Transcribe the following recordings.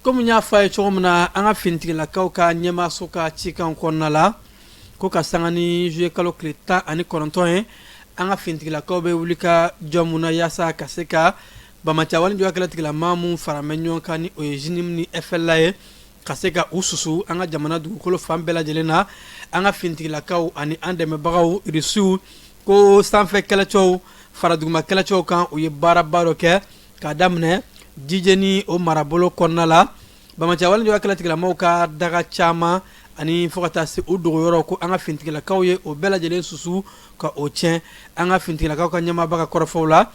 kɔmi y'a fɔ a ye cogo min na an ka finitigilakaw ka ɲɛmaaso ka cikan kɔnɔna la ko ka sanga ni juillet kalo tile tan ani kɔnɔntɔn ye an ka finitigilakaw bɛ wulikajɔ min na yaasa ka se ka banbaanciya wale juguya kɛlɛtigilamaa min faralen bɛ ɲɔgɔn kan ni o ye jnim ni efɛla ye ka se ka u susu an ka jamana dugukolo fan bɛɛ lajɛlen na an ka finitigilakaw ani an dɛmɛbagaw irisiw ko sanfɛ kɛlɛcɛw fara duguma kɛlɛcɛw kan u ye baaraba dɔ kɛ k'a daminɛ jijeni o marabolo kɔnɔna la banbaanciya wale juguya kɛlɛtigilamaaw ka daga caman ani fo ka taa se u dogoyɔrɔ ko an ka finitigilakaw ye o bɛɛ lajɛlen susu ka o tiɲɛ an ka finitigilakaw ka ɲɛmaaba ka kɔrɔfɔw la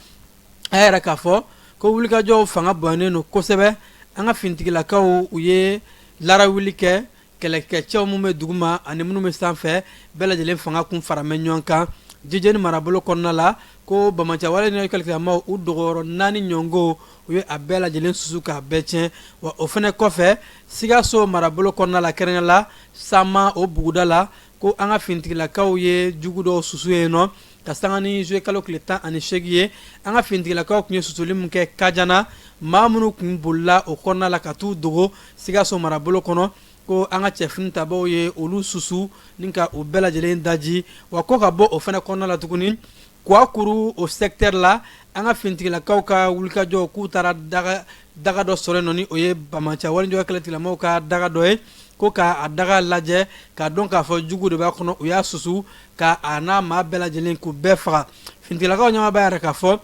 a y'a yira k'a fɔ ko wulikajɔw fanga bonyanen don kosɛbɛ an ka finitigilakaw u ye laara wuli kɛ kɛlɛkɛcɛw minnu bɛ duguma ani minnu bɛ sanfɛ bɛɛ lajɛlen fanga tun faralen bɛ ɲɔgɔn kan jijeni marabolo kɔnɔna la ko banbaanciya wale ni kɛlɛkɛlamaw u dogoyɔrɔ naani ɲɔgɔn ko u ye a bɛɛ lajɛlen susu k'a bɛɛ tiɲɛ wa o fana kɔfɛ sikaso marabolo kɔnɔna la kɛrɛnkɛrɛn la sama o buguda la ko an ka finitigilakaw ye jugu dɔw susu yen nɔ ka sanga ni juillet kalo tile tan ani seegin ye an ka finitigilakaw tun ye susuli min kɛ kajana maa minnu tun bolila o kɔnɔna la ka t'u dogo sikaso marabolo kɔnɔ ko an ka cɛfini tabaaw ye olu susu ni ka u bɛɛ lajɛlen daji wa ko ka bɔ o fana kɔnɔna la tuguni kuwakuru o secteur la an ka finitigilakaw ka wulikajɔ k'u taara daga daga dɔ sɔrɔ nɔ ni o ye banbaanciya wale juguya kɛlɛtigilamaaw ka daga dɔ ye ko k'a daga lajɛ k'a dɔn k'a fɔ jugu de b'a kɔnɔ u y'a susu ka a n'a maa bɛɛ lajɛlen k'u bɛɛ faga finitigilakaw ɲɛmaa b'a yira k'a fɔ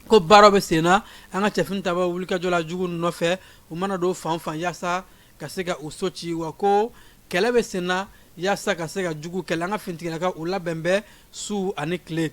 ko baaraw bɛ sen na an ka cɛfini tabaaw wulikajɔ la jugu nɔfɛ u mana dogo fan o fan yaasa ka se ka u so ci wa ko kɛlɛ bɛ sen na yaasa ka se ka jugu kɛlɛ an ka finitigilakaw u labɛnnen bɛ su ani tile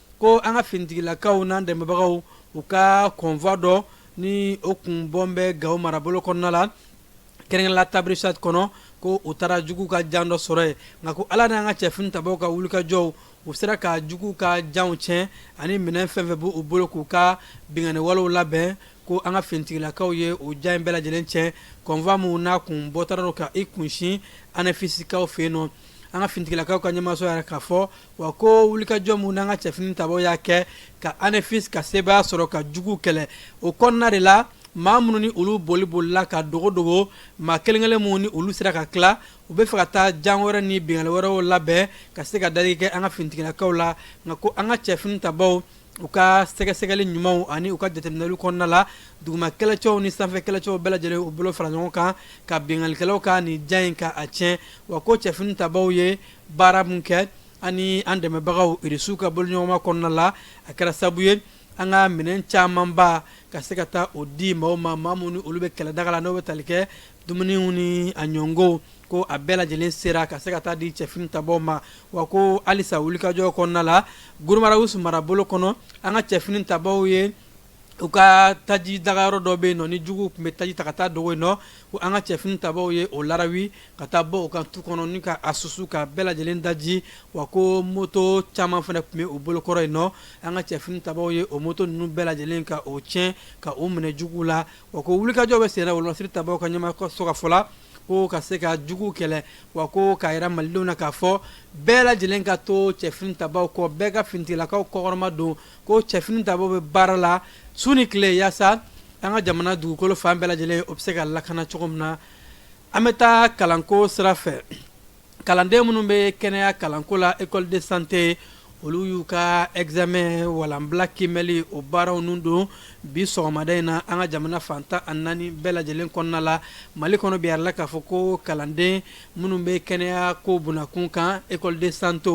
ko an ka finitigilakaw n'an dɛmɛbagaw u ka convoi dɔ ni o kun bɔlen bɛ gawo marabolo kɔnɔna la kɛrɛnkɛrɛn la tabrichat kɔnɔ ko u taara jugu ka jan dɔ sɔrɔ yen nka ko ala n'an ka cɛfini tabaaw ka wulikajɔw u sera ka jugu ka janw tiɲɛ ani minɛn fɛn o fɛn b'u bolo k'u ka binkanni walew labɛn ko an ka finitigilakaw ye u jan in bɛɛ lajɛlen tiɲɛ convoi min n'a kun bɔtɔ gawo ka i kunsin anefisikaw fɛ yen nɔ an ka finitigilakaw ka ɲɛmaaso y'a yira k'a fɔ wa ko wulikajɔ min n'an ka cɛfini tabaaw y'a kɛ ka anefisi ka sebaaya sɔrɔ ka jugu kɛlɛ o kɔnɔna de la maa minnu ni olu boli bolila ka dogo dogo maa kelenkelen minnu ni olu sera ka tila u bɛ fɛ ka taa jan wɛrɛ ni binkanli wɛrɛw labɛn ka se ka dali kɛ an ka finitigilakaw la nka ko an ka cɛfini tabaaw u ka sɛgɛsɛgɛli ɲumanw ani u ka jateminɛli kɔnɔna la duguma kɛlɛcɛw ni sanfɛ kɛlɛcɛw bɛɛ lajɛlen u bolo fara ɲɔgɔn kan ka binkanlikɛlaw ka nin jan in ka a tiɲɛ wa ko cɛfini tabaaw ye baara min kɛ ani an dɛmɛbagaw irisiw ka bolodiɲɔgɔnma kɔnɔna la a kɛra sabu ye an ka minɛn camanba ka se ka taa o di maaw ma maa minnu olu bɛ kɛlɛdaga la n'o bɛ tali kɛ dumuniw ni a ɲɔgɔnw ko a bɛɛ lajɛlen sera ka se ka taa di cɛfini tabaw ma wa ko halisa wulikajɔ kɔnɔna la guruma rarusu marabolo kɔnɔ an ka cɛfini tabaw ye u ka taji daga yɔrɔ dɔ bɛ yen nɔ ni juguw tun bɛ taji ta ka taa dogo yen nɔ ko an ka cɛfini tabaw ye o laaraw ka taa bɔ o kan tu kɔnɔ ni ka a susu ka bɛɛ lajɛlen daji wa ko moto caman fana tun bɛ u bolokɔrɔ yen nɔ an ka cɛfini tabaw ye o moto ninnu bɛɛ lajɛlen ka o tiɲɛ ka o minɛ jugu la wa ko wulikajɔ bɛ sen na lasiri tabaw ka ɲɛmaaso ka fɔ la ko ka se ka juguw kɛlɛ wa ko k'a yira malidenw na k'a fɔ bɛɛ lajɛlen ka to cɛfini tabaw kɔ bɛɛ ka finitigilakaw kɔkɔrɔmadon ko cɛfini tabaw bɛ baara la su ni tile yaasa an ka jamana dugukolo fan bɛɛ lajɛlen o bɛ se ka lakana cogo min na an bɛ taa kalanko sira fɛ kalanden minnu bɛ kɛnɛya kalanko la école de santé olu y'u ka examen walanbila kiimɛli o baaraw nun don bi sɔgɔmada in na an ka jamana fan tan ani naani bɛɛ lajɛlen kɔnɔna la mali kɔnɔ bi a yirala k'a fɔ ko kalanden minnu bɛ kɛnɛya ko bunda kun kan école de santé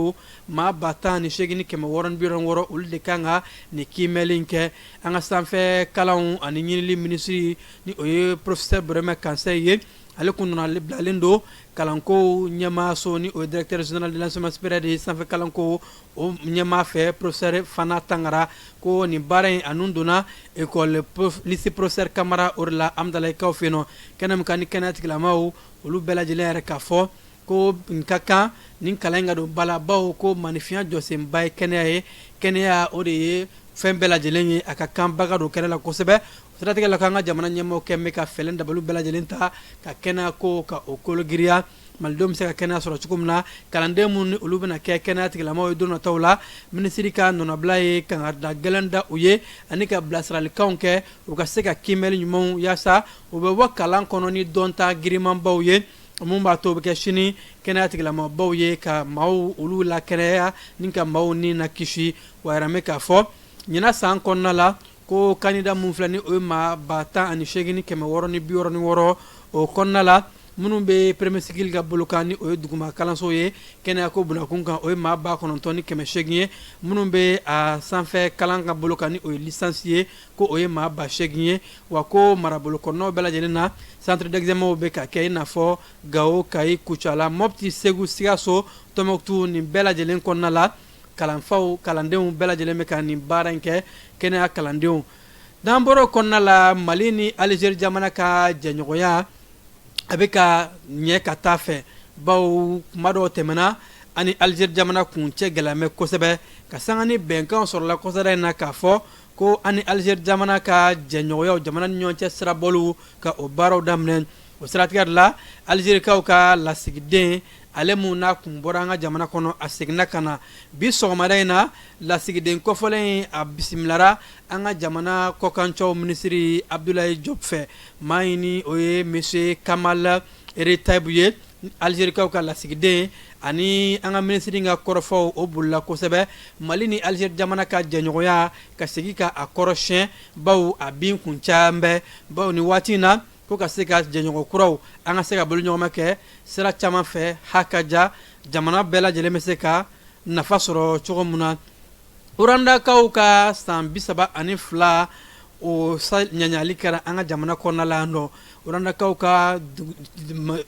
maa ba tan ni segin ni kɛmɛ wɔɔrɔ ni bi wɔɔrɔ ni wɔɔrɔ olu de kan ka nin kiimɛli in kɛ an ka sanfɛ kalan ani ɲinili minisiri ni o ye professeur burema kansayi ye ale tun nɔnabilalen don kalanko ɲɛmaaso ni o ye directeur général de l'enseignement supérieur de ye sanfɛ kalanko o ɲɛmaa fɛ professeur fana tangara ko nin baara in a nun donna école lycée prosper kamara o de la amudalayikaw fɛ yen nɔ kɛnɛ min kan ni kɛnɛya tigilamaaw olu bɛɛ lajɛlen y'a yira k'a fɔ ko nin ka kan nin kalan in ka don ba la bawo ko maaninfinya jɔsenba ye kɛnɛya ye kɛnɛya o de ye fɛn bɛɛ lajɛlen ye a ka kan ba ka don kɛnɛya la kosɛbɛ o siratigɛ la k'an ka jamana ɲɛmaaw kɛlen bɛ ka fɛɛrɛ ni dabaliw bɛɛ lajɛlen ta ka kɛnɛya ko ka o kolo giriya malidenw bɛ se ka kɛnɛya sɔrɔ cogo min na kalanden minnu ni olu bɛna kɛ kɛnɛya tigilamaaw ye don nataw la minisiri ka nɔnabila ye kangada gɛlɛn da u ye ani ka bilasiralikanw kɛ u ka se ka kiimɛli ɲumanw yaasa u bɛ bɔ kalan kɔnɔ ni dɔnta girinmanbaw ye Min b'a to u bɛ kɛ sini kɛnɛya tigilamɔgɔbaw ye ka maaw olu lakɛnɛya ni ka maaw ni lakisi wa a yiralen bɛ k'a fɔ ɲinan san kɔnɔna la ko kandida minnu filɛ ni o ye maa ba tan ani segin ni kɛmɛ wɔɔrɔ ni bi wɔɔrɔ ni wɔɔrɔ o kɔnɔna la minnu bɛ premier cycle ka bolo kan ni o ye duguma kalanso ye kɛnɛya ko bunda kun kan o ye maa ba kɔnɔntɔn ni kɛmɛ segin ye minnu bɛ a sanfɛ kalan ka bolo kan ni o ye licence ye ko o ye maa ba segin ye wa ko marabolo kɔnɔnaw bɛɛ lajɛlen na centre d'examenw bɛ ka kɛ i n'a fɔ gawo kayi kucala mɔti segu sikaso tɔnbukutu nin bɛɛ lajɛlen kɔnɔna la kalanfaw kalandenw bɛɛ lajɛlen bɛ ka nin baara in kɛ kɛnɛya kalandenw n'an bɔra o kɔnɔna la mali ni alizeri jamana ka jɛɲɔgɔnya a bɛ ka ɲɛ ka taa fɛ baw kuma dɔw tɛmɛna an ni alizeri jamana kun cɛ gɛlɛyamɛ kosɛbɛ ka sanga ni bɛnkanw sɔrɔla kɔsa in na k'a fɔ ko an ni alizeri jamana ka jɛɲɔgɔnyaw jamana ni ɲɔgɔn cɛ sirabɔliw ka o baaraw daminɛ o siratigɛ de la alizerikaw ka lasigiden ale min n'a kun bɔra an ka jamana kɔnɔ a seginna ka na bi sɔgɔmada in na lasigiden kɔfɔlen in a bisimilara an ka jamana kɔkancaw minisiri abudulayi jɔpu fɛ maa in ni o ye monsieur kamal retieb ye alizerikaw ka lasigiden ani an ka minisiri ka kɔrɔfɔw o bolila kosɛbɛ mali ni alizeri jamana ka jɛɲɔgɔnya ka segin ka a kɔrɔsiyɛn baw a bin kun caman bɛ baw nin waati in na ko ka se ka jɛɲɔgɔn kuraw an ka se ka boloɲɔgɔnma kɛ sira caman fɛ ha ka ja jamana bɛɛ lajɛlen bɛ se ka nafa sɔrɔ cogo min na urandakaw ka san bi saba ani fila o ɲagali kɛra an ka jamana kɔnɔna la yan nɔ urandakaw ka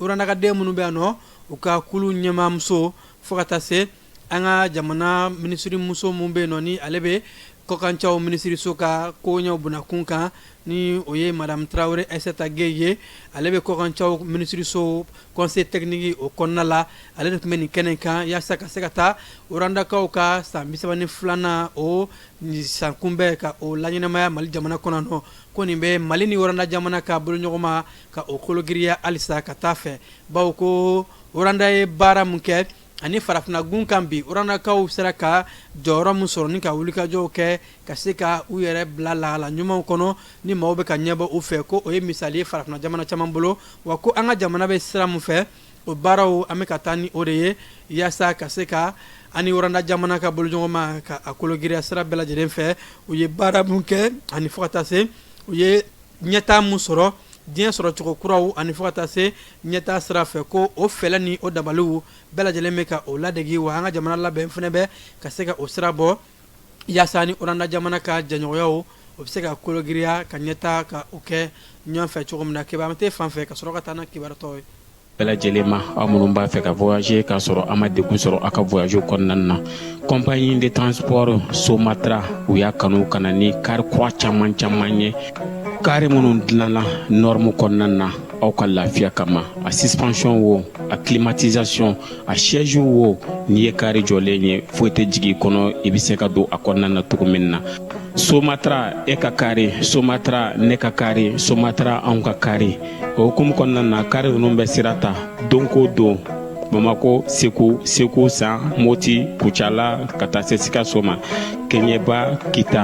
urandakaden minnu bɛ yan nɔ u ka kulu ɲɛmaamuso fo ka taa se an ka jamana minisirimuso min bɛ yen nɔ ni ale bɛ kɔkancaw minisiriso ka koɲɛw bonda kun kan ni o ye madamu tarawele ayisata gɛyi ye ale bɛ kɔkancaw minisiriso conseil technique o kɔnɔna la ale de tun bɛ nin kɛnɛ kan yaasa ka se ka taa urandakaw ka san bi saba ni filanan o san kunbɛn ka o laɲɛnamaya mali jamana kɔnɔ nɔ ko nin bɛ mali ni uranda jamana ka boloɲɔgɔnma ka o kolo giriya halisa ka taa fɛ bawo ko uranda ye baara min kɛ ani farafinnagun kan bi urandakaw sera ka jɔyɔrɔ min sɔrɔ ni ka wulikajɔw kɛ ka se ka u yɛrɛ bila lahala ɲumanw kɔnɔ ni maaw bɛ ka ɲɛbɔ u fɛ ko o ye misali ye farafinna jamana caman bolo wa ko an ka jamana bɛ sira min fɛ o baaraw an bɛ ka taa ni o de ye yaasa ka se ka an ni uranda jamana ka boloɲɔgɔnma ka a kolo giriya sira bɛɛ lajɛlen fɛ u ye baara min kɛ ani fo ka taa se u ye ɲɛtaa min sɔrɔ diɲɛ sɔrɔcogo kuraw ani fo ka taa se ɲɛtaa sira fɛ ko o fɛɛrɛ ni o dabaliw bɛɛ lajɛlen bɛ ka o ladege wa an ka jamana labɛn fana bɛ ka se ka o sira bɔ yaasa ni uranda jamana ka jɛɲɔgɔnyaw o bɛ se ka kologiriya ka ɲɛtaa ka o kɛ ɲɔgɔn fɛ cogo min na kibaru tɛ fan fɛ ka sɔrɔ ka taa ni kibaru tɔ ye bɛɛ lajɛlen ma aw minnu b'a fɛ ka voyager k'a sɔrɔ a ma degun sɔrɔ a ka voyage kɔnɔna na compagnie de transport Somatra u y'a kanu ka na ni kari kura caman caman ye kari minnu dilanna norme kɔnɔna na aw ka lafiya kama a suspension wo a climatisation a siège wo n'i ye kari jɔlen ye foyi tɛ jigin kɔnɔ i bɛ se ka don a kɔnɔna na cogo min na somatra e ka kari somatra ne ka kari somatra anw ka kari o hukumu kɔnɔna na kari ninnu bɛ sira ta don ko don bamakɔ segu segu san moti kucala ka taa se sikaso ma kɛɲɛba kita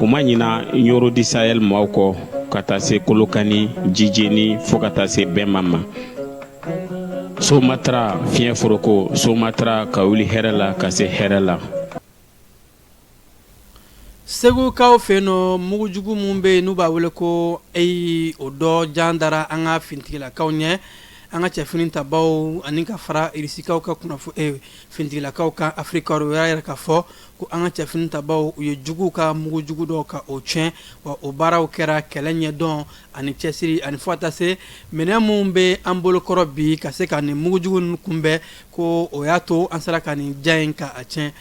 u ma ɲina ɲɔrɔ di sayɛli maaw kɔ ka taa se kolokani jijeni fo ka taa se bɛnma ma somatra fiɲɛ foroko somatra ka wuli hɛrɛ la ka se hɛrɛ la segukaw fɛ yen nɔ mugujugu min bɛ yen n'u b'a wele ko eyi o dɔ jan dara an ka finitigilakaw ɲɛ an ka cɛ finitabaw ani ka fara irisikaw ka finitigilakaw kan afirika u y'a yira ka fɔ ko an ka cɛ finitabaw u ye juguw ka mugujugu dɔ ka o tiɲɛ wa o baaraw kɛra kɛlɛ ɲɛdɔn ani cɛsiri ani fo ka taa se minɛn min bɛ an bolokɔrɔ bi ka se ka nin mugujugu kunbɛn ko o y'a to an sera ka nin jan in ka a tiɲɛ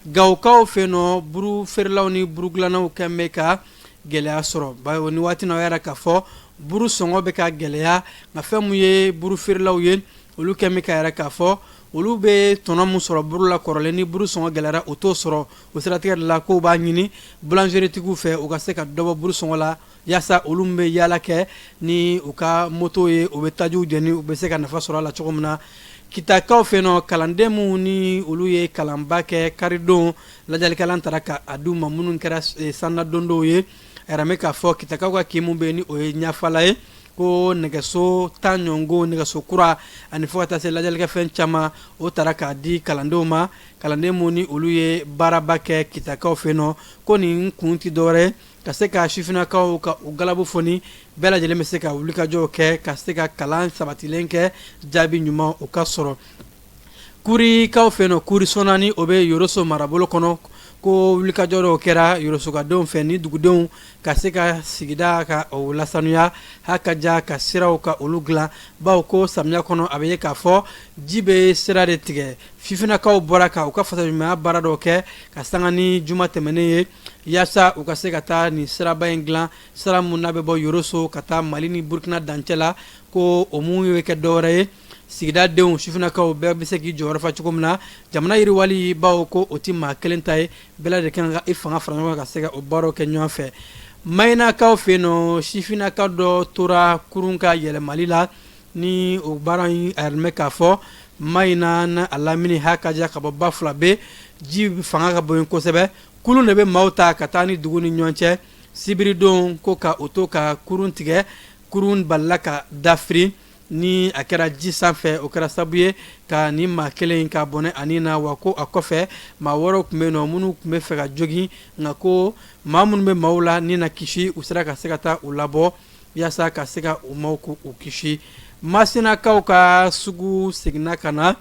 Gawokaw fɛ yen nɔ buru feerelaw ni burudilannaw kɛlen bɛ ka gɛlɛya sɔrɔ bawo nin waati na o y'a yira ka fɔ buru sɔngɔ bɛ ka gɛlɛya nka fɛn min ye buru feerelaw ye olu kɛlen bɛ k'a yira ka fɔ olu bɛ tɔnɔ min sɔrɔ buru la kɔrɔlen ni buru sɔngɔ gɛlɛyara o t'o sɔrɔ o siratigɛ de la k'o b'a ɲini bulanzeritigiw fɛ u ka se ka dɔ bɔ buru sɔngɔ la Yaasa olu min bɛ yaala kɛ ni u ka mɔto ye u bɛ taji jeni u bɛ se ka nafa sɔrɔ a la cogo min na kitakaw fɛ yen nɔ kalanden minnu ni olu ye kalanba kɛ karidon ladiyalikɛlan taara ka a di u ma minnu kɛra sanna dondonw ye a yiralen bɛ k'a fɔ kitakaw ka kin min bɛ yen ni o ye ɲafala ye ko nɛgɛso tan ɲɔgɔn ko nɛgɛso kura ani fo ka taa se ladiyalikɛfɛn caman o taara k'a di kalandenw ma kalanden minnu ni olu ye baaraba kɛ kitakaw fɛ nɔ ko nin kun tɛ dɔwɛrɛ ka se ka sifinnakaw ka u galabu foni bɛɛ lajɛlen bɛ se ka wulikajɔw kɛ ka se ka kalan sabatilen kɛ jaabi ɲuman o ka sɔrɔ kurikaw fɛ yen nɔ kuri sɔna ni o bɛ yɔrɔso marabolo kɔnɔ ko wulikajɔ dɔw kɛra yɔrɔsokadenw fɛ ni dugudenw ka se ka sigida ka o lasaniya ha ka ja ka siraw ka olu dilan bawo ko samiya kɔnɔ a bɛ ye k'a fɔ ji bɛ sira de tigɛ sifinnakaw bɔra ka u ka fasodenɲumanya baara dɔw kɛ ka sanga ni juma tɛmɛnen ye yaasa u ka se ka taa nin siraba in dilan sira min n'a bɛ bɔ yɔrɔso ka taa mali ni burukina dancɛ la ko o minnu ye kɛ dɔwɛrɛ ye sigidadenw sifinnakaw bɛɛ bɛ se k'i jɔyɔrɔ fa cogo min na jamana yiriwali bawo ko o tɛ maa kelen ta ye bɛɛ lajɛlen kan ka i fanga fara ɲɔgɔn kan ka se ka o baaraw kɛ ɲɔgɔn fɛ mayinakaw fɛ yen nɔ sifinnaka dɔ tora kurun ka yɛlɛmali la ni o baara in a yiralen bɛ k'a fɔ mayina n'a lamini ha ka diya ka bɔ bafulabɛ ji fanga ka bon kosɛbɛ kurun de bɛ maaw ta ka taa ni dugu ni ɲɔgɔn cɛ sibiridon ko ka o to ka kurun tigɛ kurun balila ka dafiri ni a kɛra ji sanfɛ o kɛra sabu ye ka nin maa kelen in ka bɔnɛ ani na wa ko a kɔfɛ maa wɛrɛw tun bɛ nɔ minnu tun bɛ fɛ ka jogin nka ko maa minnu bɛ maaw la ni na kisi u sera ka se ka taa u labɔ yaasa ka se ka u maaw ko u kisi masinakaw ka sugu seginna ka na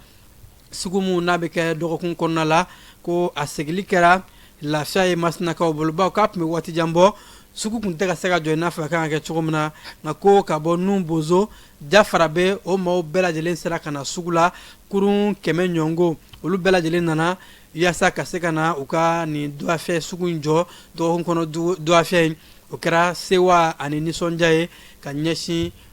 Sugu mun n'a bɛ kɛ dɔgɔkun kɔnɔna la ko a seginli kɛra lafiya ye masinakaw bolo bawo k'a tun bɛ waati jan bɔ sugu tun tɛ ka se ka jɔ i n'a fɔ a kan ka kɛ cogo min na nka ko ka bɔ nin bozo jafarabɛ o maaw bɛɛ lajɛlen sera ka na sugu la kurun kɛmɛ ɲɔgɔn ko olu bɛɛ lajɛlen nana yaasa ka se ka na u ka nin dɔgɔfiyɛ sugu in jɔ dɔgɔkun kɔnɔ dɔgɔfiyɛ in o kɛra sewa ani nisɔndiya ye ka ɲɛsin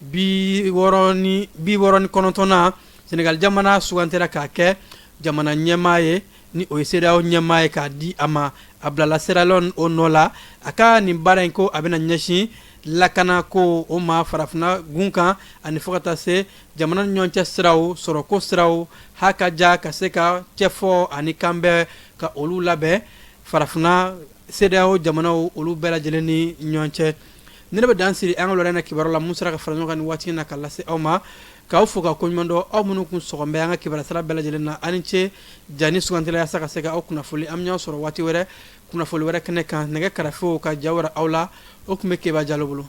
Bi wɔɔrɔ ni bi wɔɔrɔ ni kɔnɔntɔn na Senegal jamana sugantera k'a kɛ jamana ɲɛmaa ye, ni o ye CEDEAO ɲɛmaa ye k'a di a ma. A bilala Sierra Leone o nɔ la, a ka nin baara in ko a bɛna ɲɛsin lakanako o ma farafinna gun kan ani fo ka taa se jamana ni ɲɔgɔn cɛ siraw sɔrɔko siraw haka ja ka se ka cɛfɔ ani kanbɛn ka olu labɛn farafinna CEDEAO jamanaw olu bɛɛ lajɛlen ni ɲɔgɔn cɛ ni ne bɛ dan siri an ka lɔrɛn na kibaru la mun sera ka fara ɲɔgɔn kan ni waati in na ka lase aw ma k'aw fo ka koɲumandɔn aw minnu kun sɔgɔn bɛ an ka kibaru sira bɛɛ lajɛlen na a ni ce ja ni sugantila yaasa ka se ka aw kunnafoni an bɛ ɲɔgɔn sɔrɔ waati wɛrɛ kunnafoni wɛrɛ kɛnɛ kan nɛgɛ karafew ka ja wɛrɛ aw la o tun bɛ keba jalo bolo